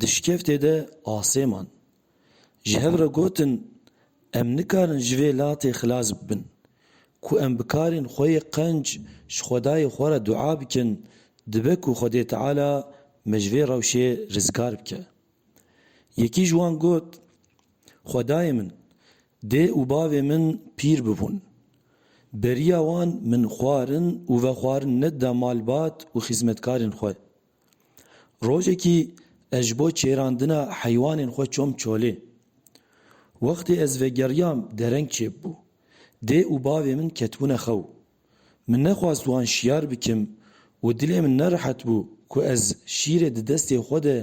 di şikeftê de asê man. Ji hev re gotin em nikarin ji vê latê xilas bibin. Ku em bikarîn xwe yê qenc ji xwedayê xwe re dua bikin, dibe ku Xwedê Teala me ji vê rewşê rizgar bike. Yekî ji wan got, Xwedayê min, dê û bavê min pîr bibûn. Beriya wan min xwarin û vexwarin nedida malbat û xizmetkarên xwe. Rojekî ez ji bo çêrandina heywanên xwe çom çolê. Wextê ez vegeriyam dereng çêbû. Dê û bavê min ketbûne xew. Min nexwast wan şiyar bikim û dilê min nerehet bû ku ez şîrê di destê xwe de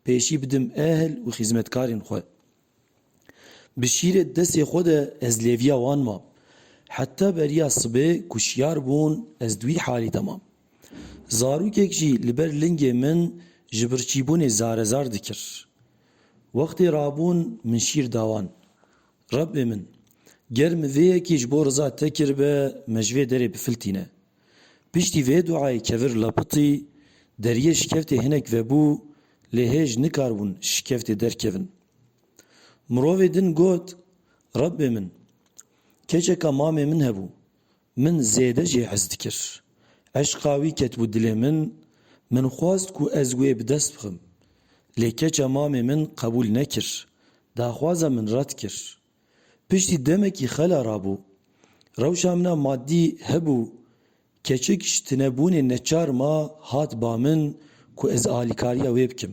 pêşî bidim ehl û xîzmetkarên xwe. Bi şîrê destê xwe de ez lêviya wan mam. Heta beriya sibê ku şiyar bûn ez di wî halî de mam. Zarokek jî li ber lingê min ji birçîbûnê zarezar dikir. Wextê rabûn min şîr da wan. Rebê min, ger min vê yekê ji bo riza te kiribe me ji vê derê bifiltîne. Piştî vê duayê kevir lapitî, deriyê şikeftê hinek vebû lê hêj nikaribûn şikeftê derkevin. Mirovê din got, Rebbê min, keçeka mamê min hebû, min zêde jê hez dikir. Eşqa wî ketibû dilê min, min xwest ku ez wê bi dest bixim. Lê keça mamê min qebûl nekir, daxwaza min red kir. Piştî demekî xela rabû. Rewşa min a maddî hebû. Keçik ji tunebûnê neçar ma hat ba min ku ez alîkariya wê bikim.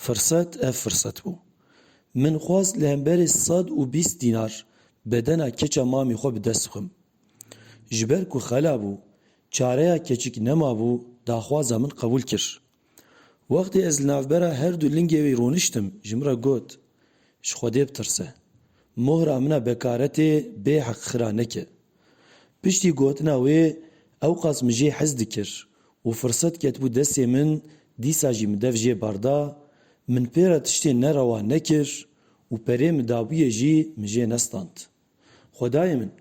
Firset ev firset bû. Min xwest li hemberê sed û bîst dînar bedena keça mamê xwe bi dest bixim. Ji ber ku xela bû, çareya keçik nemabû, daxwaza min qebûl kir. Wextê ez li navbera her du lingê wî rûniştim, ji min re got, Ji Xwedê bitirse. Mohra min a bekaretê bê heqxira neke. Piştî gotina wê ewqas min jê hez dikir û firset ketibû destê min dîsa jî min dev jê berda, min pê re tiştê nerewa nekir û perê min dabûyê jî min jê nestand. Xwedayê min,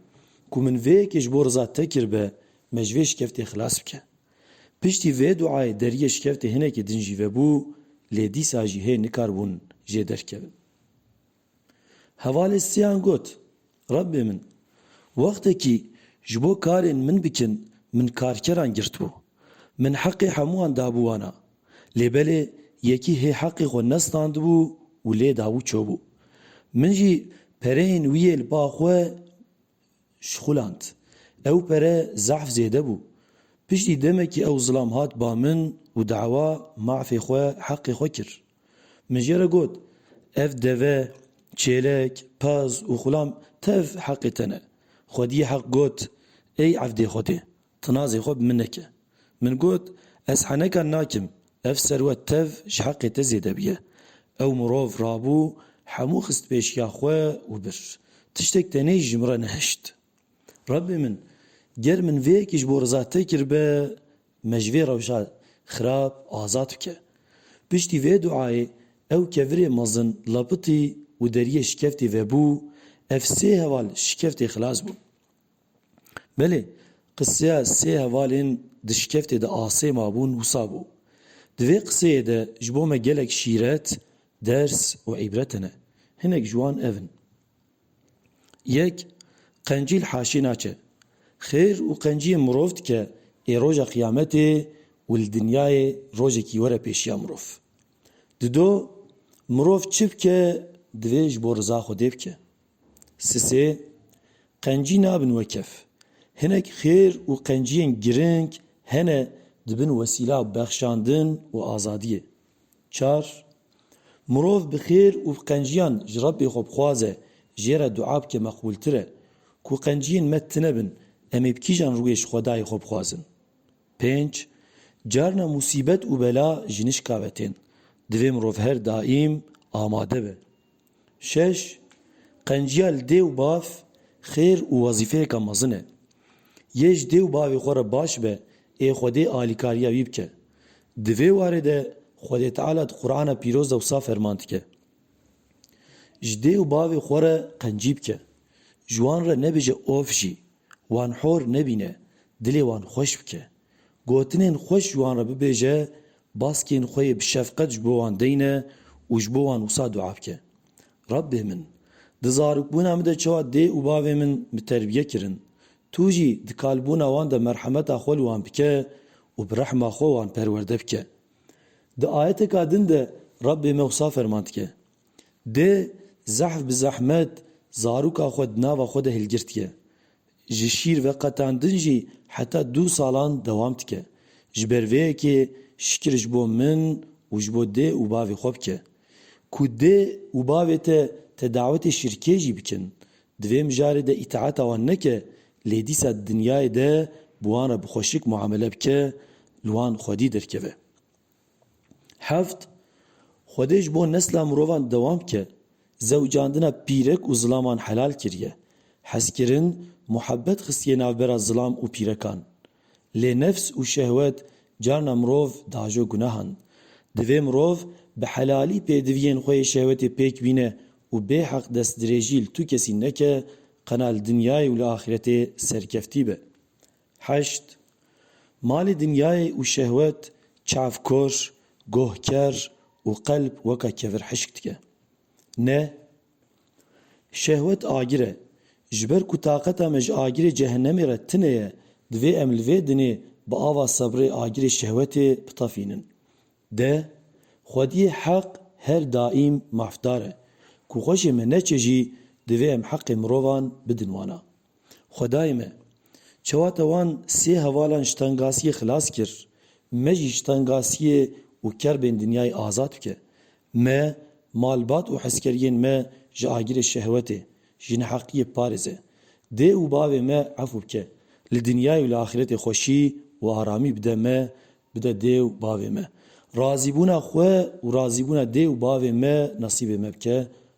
ku min vê yekê ji bo riza Te kiribe, me ji vê şikeftê xilas bike. Piştî vê duayê deriyê şikeftê hinekî din jî vebû, lê dîsa jî hê nikaribûn jê derkevin. Hevalê siyan got, Rebbê min, wextekî ji bo karên min bikin, min karkeran girtibû. Min heqê hemû wan dabû wana, Lê belê yekî hê heqê xwe nestandibû û lê dabû çûbû. Min jî pereyên wî yê li ba xwe şixuland. Ew pere zehf zêde bû. Piştî demekî ew zilam hat ba min û dawa mafê xwe, heqê xwe kir. Min jê re got, Ev deve, çêlek, pez û xulam tev heqê te ne. Xwediyê Heq got, Ey evdê Xwedê! Tinazê xwe bi min neke. Min got, Ez heneka nakim, ev serwet tev ji heqê te zêde bûye. Ew mirov rabû, hemû xist pêşiya xwe û bir. Tiştek tenê jî ji min re nehişt. Rebbê min, ger min vê yekê ji bo riza te kiribe, me ji vê rewşa xirab azad bike. Piştî vê duayê ew kevirê mezin lepitî û deriyê şikeftê vebû, ev sê heval ji şikeftê xilas bûn. Belê, qiseya sê hevalên di şikeftê de asê mabûn wisa bû. Di vê qiseyê de ji bo me gelek şîret, ders û îbret hene. Hinek ji wan ev in. Yek, qencîl haşê naçe. Xêr û qenciyê mirov dike ê roja qiyametê û li dinyayê rojekî were pêşiya mirov. Dido, mirov çi bike divê ji bo riza Xwedê bike. Sisê qencî nabin wekef. Hinek xêr û qenciyên giring hene dibin wesîla bexşandin û azadiyê. Çar, Mirov bi xêr û qenciyan ji Rebbê xwe bixwaze, jê re dua bike meqbûltir e. Ku qenciyên me tine bin, em ê bi kîjan rûyê ji Xwedayê xwe bixwazin? Pênc, Carna musîbet û bela ji nişka ve tên. Divê mirov her daîm amade be. Şeş, Qenciya li dê û bav xêr û wezîfeyeke mezin e. Yê ji dê û bavê xwe re baş be ê Xwedê alîkariya wî bike. Di vê warê de Xwedê Teala di Qur'ana Pîroz de wisa ferman dike, Ji dê û bavê xwe re qencî bike, ji wan re nebêje of jî, wan hor nebîne, dilê wan xweş bike. Gotinên xweş ji wan re bibêje, baskên xwe yê bi şefqet ji bo wan deyne û ji bo wan wisa dua bike, Rebbê min, di zarokbûna min de çawa dê û bavê min bi terbiye kirin, Tu jî di kalbûna wan de merhemeta xwe li wan bike û bi rehma xwe wan perwerde bike. Di ayeteka din de Rebbê me wisa ferman dike, Dê zehf bi zehmet zaroka xwe di nava xwe de hilgirtike, Ji şîr veqetandin jî heta du salan dewam dike. Ji ber vê yekê şikir ji bo min û ji bo dê û bavê xwe bike. Ku dê û bavê te te dawetê şirkê jî bikin, divê mijarê de îtaeta wan neke, lê dîsa di dinyayê de bi wan re bi xweşik muamele bike, li wan xwedî derkeve. Heft, Xwedê ji bo nesla mirovan dewam bike, zewcandina pîrek û zilaman helal kiriye. Hezkirin, muhebet xistiye navbera zilam û pîrekan. Lê nefs û şehwet carna mirov diajo gunahan. Divê mirov bi helalî pêdiviyên xwe yê şehwetê pêk bîne û bêheq destdirêjî li tu kesî neke, qena li dinyayê û li axîretê serkeftî be. Heşt, Malê dinyayê û şehwet çavkor, gohker û qelb weka kevir hişk dike. Ne. Şehwet agir e. Ji ber ku taqeta me ji agirê cehenemê re tine ye, divê em li vê dinê bi ava sebrê agirê şehwetê bitefînin. De. Xwediyê heq her daîm mafdar e. Ku xweşê me neçe jî divê em heqê mirovan bidin wana. Xwedayê me! Çawa te wan sê hevalan ji tengasiyê xilas kir, me jî ji tengasiyê û kerbên dinyayê azad bike. Me, malbat û hezkeriyên me ji agirê şehwetê, ji neheqiyê biparêze. Dê û bavê me efû bike. Li dinyayê û li axiretê xweşî û aramî bide me, bide dê û bavê me. Razîbûna xwe û razîbûna dê û bavê me nesîbê me bike.